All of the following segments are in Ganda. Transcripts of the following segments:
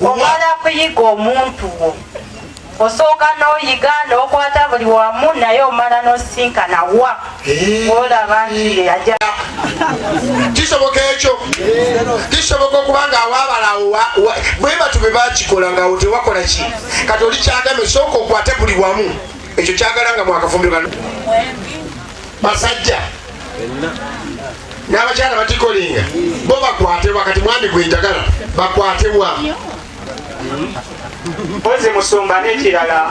omala kuyiga omuntu wo osooka n'oyiga n'okwata buli wamu naye omala n'osisinkana wa eh. olaba nti aja kisoboka ekyo kisoboka okubanga awabalawo bwebatu be bakikola nga otewakola ki kati oli kyagame sooka okwate buli wamu ekyo kyagala nga mwakafumbiro basajja n'abakyala batikolinga bo bakwatebwa kati mwami gwenjagala bakwatebwa mpozi musumba nekirala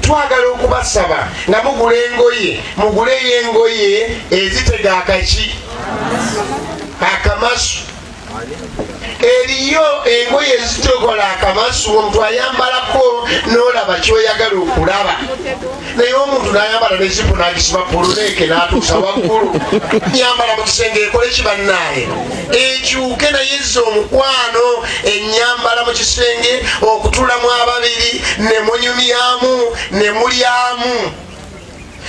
twagala okubasaba nga mugula engoye muguleyo engoye ezitega akaki akamasu eriyo engoye ezitokola akamasu omuntu ayambalako nolaba kyoyagala okulaba naye omuntu nayambala nezipu nagisiba puluneeke natuusa waggulu nyambala mukisenge ekole kibanaaye ekyuke naye ze omukwano enyambala mukisenge okutulamu ababiri nemunyumyamu nemulyamu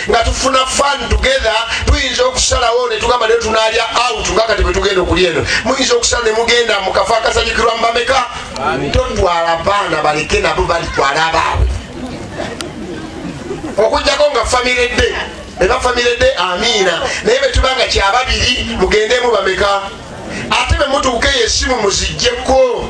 nga tufuna fan together tuyinza okusalawo netugamba naye tunalya out nga kati bwetugenda okulya eno muyinza okusala nemugenda mukafa akasanyukirwa mubameka totwala baana baleke nabo balitwala abaabwe okujjako nga famire de eba famire de amiina naye betuba nga kyababiri mugendemu bameka ate bemutuuka eyo esimu muzijjeko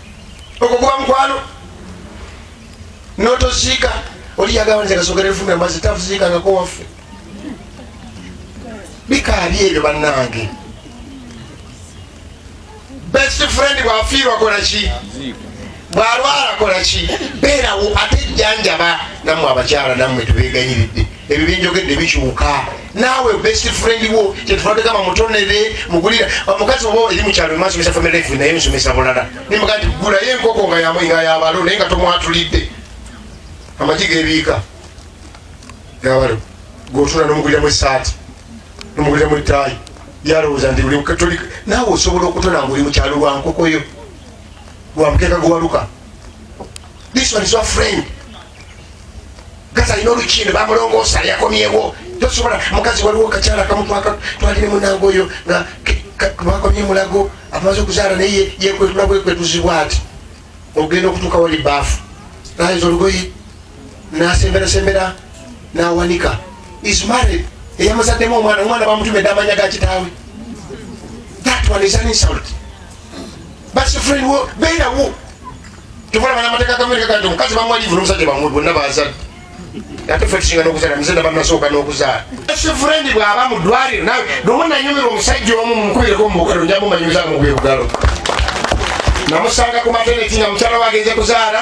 ogwo guba mukwano notoziika oli yagamba nze kasogera efumbe mazi tafuziikangako waffe bikaabi ebyo bannange best friend bwafiirwa kola ki bwalwala kola ki beerawo ate jjanjaba nammwe abakyala nammwe tubeeganyiridde ebyo byenjogedde bikyuka naawe best friend wo kyetufategama mutonere mugulira omukazi oba eri mukyalo emasomesa family life naye nsomesa bulala nimbaga nti gulayo enkoko nga yabalo naye nga tomwatulidde amagi gebiika yabalo gotula nomuguliramu esaati nomuguliramu etaayi yalowooza nti naawe osobola okutona nga oli mukyalo lwa nkokoyo gwa mukeeka gwewaluka this one is your friend gaza alina olukindo bamulongoosa yakomyewo tosobola mukazi waliwo kakyala kamu twalire munange oyo nga bakomye mulago amaze okuzaala naye yekwetula bwekwetuzibwa ati ogenda okutuuka wali baafu nayinza olugoyi nasemberasembera nawanika is married eyamuzaddemu omwana omwana bamutumedde amanya gakitaawe that one is an insult basifuliriwo beerawo tokola bana amateeka gamerika gati omukazi bamwalivu nomusajja bamwe bonna bazadde ate fe tusinga nokuzala muzadde banasooka n'okuzaala sifurendi bwaba mu ddwaliro nawe nomu nanyumirwa omusajja omu mumukubireko mubukalo njamumanyumiza mugwebugalo namusanga ku mateneti nga mukyala wagenze kuzaala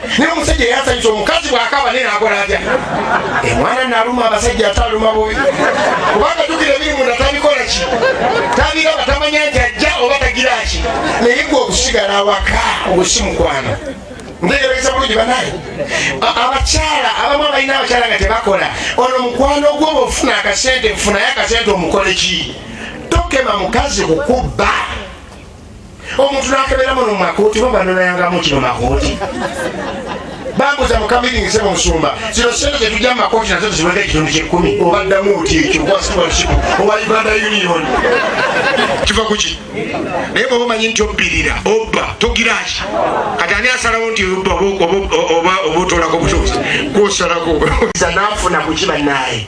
naye omusajja yasanyusa omukazi bwakaba naye nakola atya emwana eh, naluma abasajja ataluma bobi kubanga tukira ebiri munda tabikola ki tabiraba tamanya nti ajja oba tagira ki naye gwe okusigala awaka ogusimukwano ndegerekesa bulungi banaye abakyala abamu abalina abakyala nga tebakola ono mukwano gwo bwofuna akasente nfunayo akasente omukoleki tokema mukazi kukubba omuntu nakebera muno mumakooti baba nonayangamu kino makooti bambuza mukamiringize mu musumba zino sente zetujja mu makooti nazo tezibadde ekitundu kyekumi obaddamu oti ekyo gwasitwalship owa uganda union kiva kuki naye bwaba omanyi nti obbirira obba togiraki kati ani asalawo nti obba oba otolako butuuzi gwosalako nafuna kuki banaye